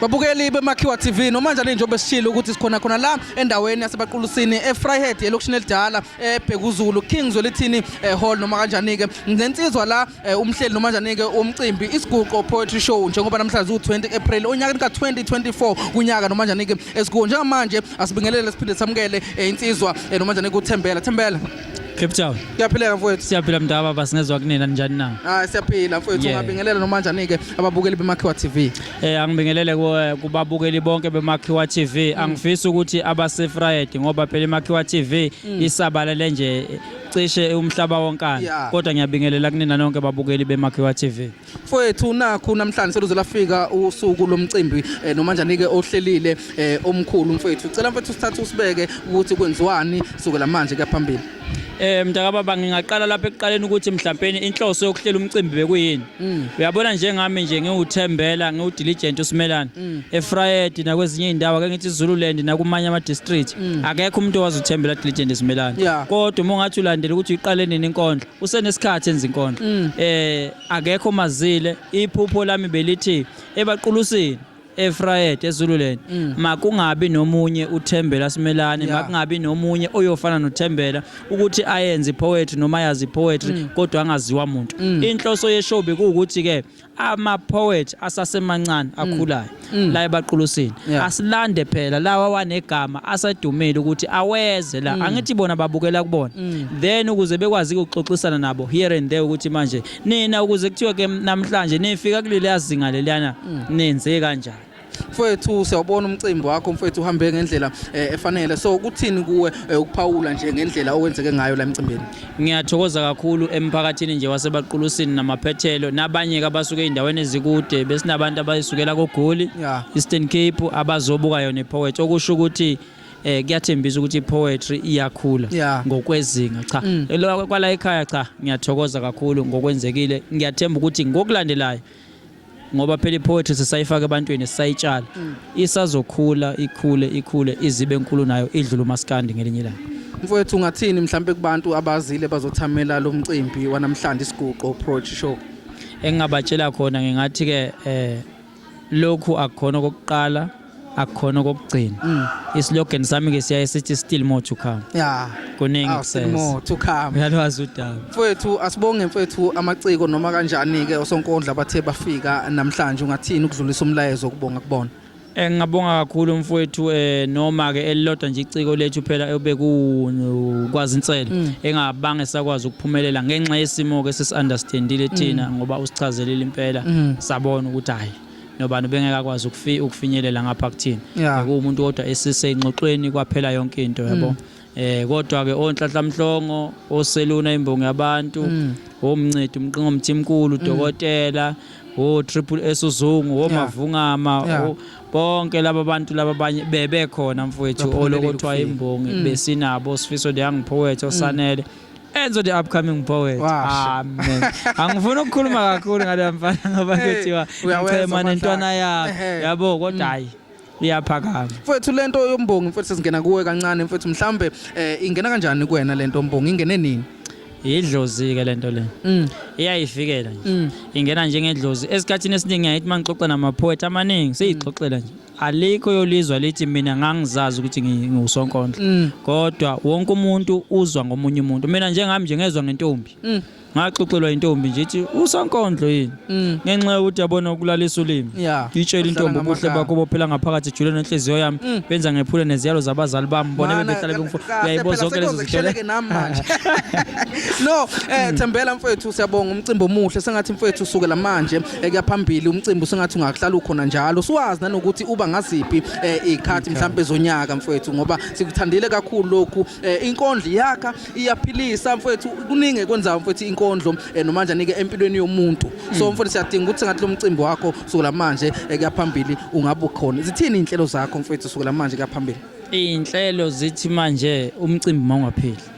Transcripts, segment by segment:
babukeli bemakhiwa tv noma njani njengoba sishilo ukuthi sikhona khona la endaweni yasebaqulusini efryhead elokishini elidala ebhekuzulu king zwelithini eh, hall noma kanjani-ke nensizwa la eh, umhleli noma njani-ke womcimbi isiguqo poetry show njengoba namhlanje ziwu-20 april onyakeni ka-2024 kunyaka noma njani-ke esikuwo njengamanje asibingelele siphinde samukele eh, insizwa noma njani-ke uthembela thembela Cape Town. Kuyaphileka mfowethu. Siyaphila mntu ababa singezwa kunina njani na? Ah siyaphila mfowethu Yeah. ungabingelela noma njani ke ababukeli beMakhiwa TV. Eh angibingelele ku- kubabukeli bonke beMakhiwa TV. Angifisi ukuthi abasefried ngoba phela iMakhiwa TV isabalele nje cishe umhlaba wonkana. Yeah. Kodwa ngiyabingelela kunina nonke babukeli beMakhiwa TV. Mfowethu nakhu namhlanje seluze lafika usuku lomcimbi eh, noma njani ke ohlelile eh, omkhulu mfowethu. Cela mfowethu sithathe usibeke ukuthi kwenziwani sukela manje kuyaphambili. Eh mntakababa ngingaqala lapha ekuqaleni ukuthi mhlawumbe inhloso yokuhlela umcimbi bekuyini. Mm. Uyabona njengami nje ngiwuthembela ngiwudiligent usimelana mm. eFried nakwezinye izindawo ake ngithi Zululand nakumanye ama district. Mm. Akekho umuntu owazi uthembela diligent isimelana. Kodwa uma ungathi ulandela ukuthi uyiqale nini inkondlo usenesikhathi enza inkondlo mm. eh akekho mazile iphupho lami belithi ebaqulusini eFrayed eZululand mm. makungabi nomunye uThembela Simelane yeah. makungabi nomunye oyofana noThembela ukuthi ayenze poetry noma yazi poetry mm. kodwa angaziwa umuntu mm. inhloso yeshow bekuwukuthi ke ama poet asasemancane akhulayo la ebaqulusini Yeah. asilande phela lawa wanegama asedumile ukuthi aweze la angithi bona babukela kubona then ukuze bekwazi ukuxoxisana nabo here and there ukuthi manje nina ukuze kuthiwe ke namhlanje nifika kuleli yazinga leliyana nenze kanjani mfowethu siyawubona umcimbi wakho mfowethu uhambe ngendlela eh, efanele so kuthini kuwe eh, ukuphawula nje ngendlela okwenzeke ngayo la emcimbini ngiyathokoza kakhulu emphakathini nje wasebaqulusini namaphethelo nabanye ke abasuke ey'ndaweni ezikude besinabantu abayisukela kogoli Yeah. eastern cape abazobuka yona ipoet okusho ukuthi eh kuyathembisa ukuthi ipoetry iyakhula Yeah. ngokwezinga cha Mm. Lo- kwala ekhaya cha ngiyathokoza kakhulu ngokwenzekile ngiyathemba ukuthi ngokulandelayo ngoba phela i-poetry sisayifaka ebantwini sisayitshala mm. isazokhula ikhule ikhule izibe enkulu nayo idlule umaskandi ngelinye ilanga mfowethu ungathini mhlawumbe kubantu abazile bazothamela lo mcimbi wanamhlanje isiguqo approach show engingabatshela khona ngingathi-ke um lokhu akukhona okokuqala akukhona okokugcina mm. islogan sami ke siyaye sithi still more to come yeah kuningi ah, kusese more to come uyalwazi udaba mfethu asibonge mfethu amaciko noma kanjani ke osonkondla bathe bafika namhlanje ungathini ukudlulisa umlayezo kubonga kubona eh, ngingabonga kakhulu mfowethu eh noma ke elilodwa nje iciko lethu phela obekukwazi inselo mm. engabange sakwazi ukuphumelela ngenxa yesimo ke sesiunderstandile thina mm. ngoba usichazelile impela sabona ukuthi hayi nobani ubengeke akwazi ukufi ukufinyelela ngapha kuthini yeah. kuwumuntu kodwa esiseyingxoxweni kwaphela yonke into yabo mm. eh kodwa ke onhlanhla mhlongo oseluna imbongi yabantu mm. omncedi umqingo mthimkulu mm. dokotela o triple S uzungu omavungama yeah. bonke laba bantu laba abanye bebe khona mfowethu olokothiwa imbongi mm. besinabo sifiso de yangiphowethe osanele mm. Enzo the upcoming poet. Washa. Amen. Angifuni ukukhuluma kakhulu ngale mfana ngoba Hey, kuthiwa uyawenza ngicema nentwana amandla. yakhe. Ehhe. Yabo kodwa hayi iyaphakama. mfethu lento yombongi mfethu sesingena kuwe kancane mfethu mhlambe eh, ingena kanjani kuwena lento yombongi ingene nini Yidlozi ke lento le. Mm. Iyayifikela nje. Mm. Ingena njengedlozi. Esikhathini esiningi ngiyayithi mangixoxa namaphoet amaningi seyixoxela nje. alikho yolizwa lithi mina ngangizazi ukuthi ngiwusonkondlo mm. kodwa wonke umuntu uzwa ngomunye umuntu mina njengami nje ngezwa ngentombi mm. ngaxoxelwa intombi nje ithi usonkondlo yini mm. ngenxa yokuthi yabona ukulalisa ulimi itshela intombi ubuhle bakho bophela ngaphakathi ejule nenhliziyo yami benza ngephule neziyalo zabazali bami bona bebehlale bengifuna uyayibo zonke lezo zithele no eh thembela mfethu siyabonga umcimbi omuhle sengathi mfethu sukela manje ekuya phambili umcimbi usengathi ungakuhlala ukhona njalo siwazi nanokuthi uba ngaziphi eh, ikhathi mhlambe zonyaka mfowethu ngoba sikuthandile kakhulu lokhu eh, inkondlo yakha iyaphilisa mfowethu kuningi ekwenzayo mfowethu inkondlo eh, nomanje anike empilweni yomuntu so mm. mfowethu siyadinga ukuthi ngathi lo mcimbi wakho sukela manje ekuya phambili ungabe ukhona zithini inhlelo zakho mfowethu sukela manje kuya phambili iy'nhlelo zithi manje umcimbi mawungapheli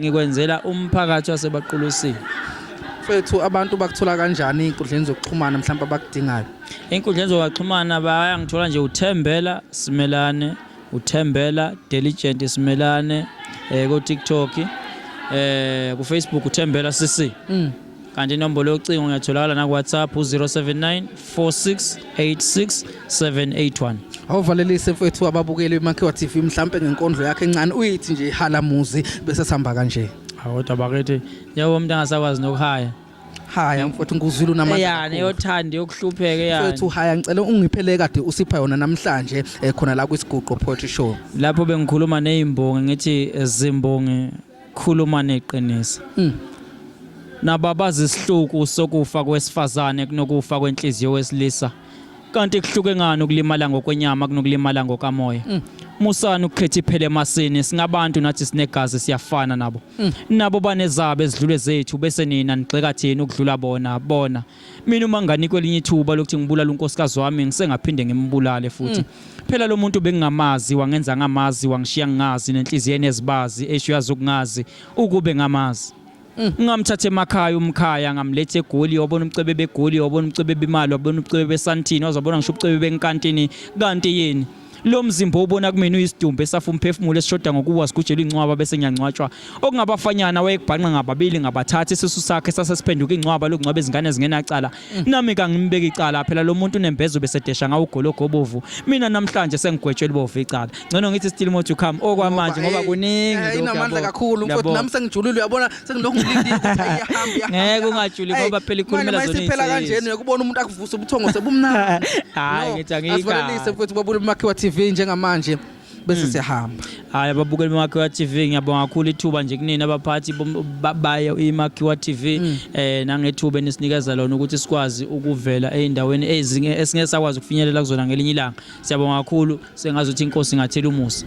Ngikwenzela umphakathi wasebaqulusini. Mfethu abantu bakuthola kanjani ey'nkundleni zokuxhumana mhlawumbe abakudingayo? Ey'nkundleni zokuxhumana bayangithola nje uThembela Simelane, uThembela Diligent Simelane eh, ko-TikTok eh, ku-Facebook uThembela CC. Mm. kanti inombolo yocingo ngiyatholakala nakuwhatsapp u-079 4686781 awuvalelise mfethu ababukeli bemakhiwa tv mhlampe ngenkondlo yakhe encane uyithi nje halamuzi bese sihamba kanje kodwa bakithi njengoba umuntu angasakwazi nokuhaya haya mfowethu ngikuzwile unamandla yani yothanda yokuhlupheka yani mfowethu haya ngicela ungiphele kade usipha yona namhlanje eh, khona la kwisiguqo poetry show lapho bengikhuluma nezimbongi ngithi eh, zimbongi Khuluma neqiniso. Mm. Nababaza isihluku sokufa kwesifazane kunokufa kwenhliziyo wesilisa. Kanti kuhluke ngani ukulimala ngokwenyama kunokulimala ngokamoya? Mm. Musani ukukhetha iphele emasini singabantu nathi sinegazi siyafana nabo. Mm. Nabo banezabo ezidlule zethu bese nina nigxeka thina ukudlula bona bona. mina uma nginganikwa elinye ithuba lokuthi ngibulale unkosikazi wami ngisengaphinde ngimbulale futhi mm. phela lo muntu bengingamazi wangenza ngamazi wangishiya ngingazi nenhliziyo enezibazi esho yazi ukungazi ukube ngamazi mm. ngamthatha emakhaya umkhaya ngamletha egoli wabona umcebe begoli wabona umcebe bemali wabona umcebe besantini wazabona ngisho umcebe benkantini kanti yini lo mzimba obona kumina uyisidumbu esafa umphefumulo esishoda ngokuwa sigujelwa incwaba bese ngiyangcwatshwa okungabafanyana wayekubhanqa ngababili ngabathatha isisu sakhe sase siphenduka incwaba lokungcwaba izingane zingenacala mm. nami kangimbeki icala phela lo muntu unembezo besedesha ngawo ugologo obovu mina namhlanje sengigwetshwe libovu icala ngcono ngithi still more to come okwamanje ngoba kuningi eh, inamandla kakhulu mfowethu nami sengijulile uyabona sengilokhu ngilindile ukuthi iyahamba iyahamba Ngeke ungatshuli Hey, ngoba phela ikhulumela manje zona mayisephela iy'nsizwa. kanjena uyakubona umuntu akuvusa ubuthongo sebumnandi Hhayi, No, ngithi angiyikahle. asivalelise mfowethu babule umakhiwa tv njengamanje bese Mm. siyahamba Hayi ababukeli beMakhiwa TV ngiyabonga kakhulu ithuba nje kunina abaphathi bom- ba- bayo iMakhiwa TV Mm. eh nangethuba enisinikeza lona ukuthi sikwazi ukuvela eindaweni ezinye esingeke sakwazi ukufinyelela kuzona ngelinye ilanga. Siyabonga kakhulu sengazi ukuthi inkosi ingathela umusa.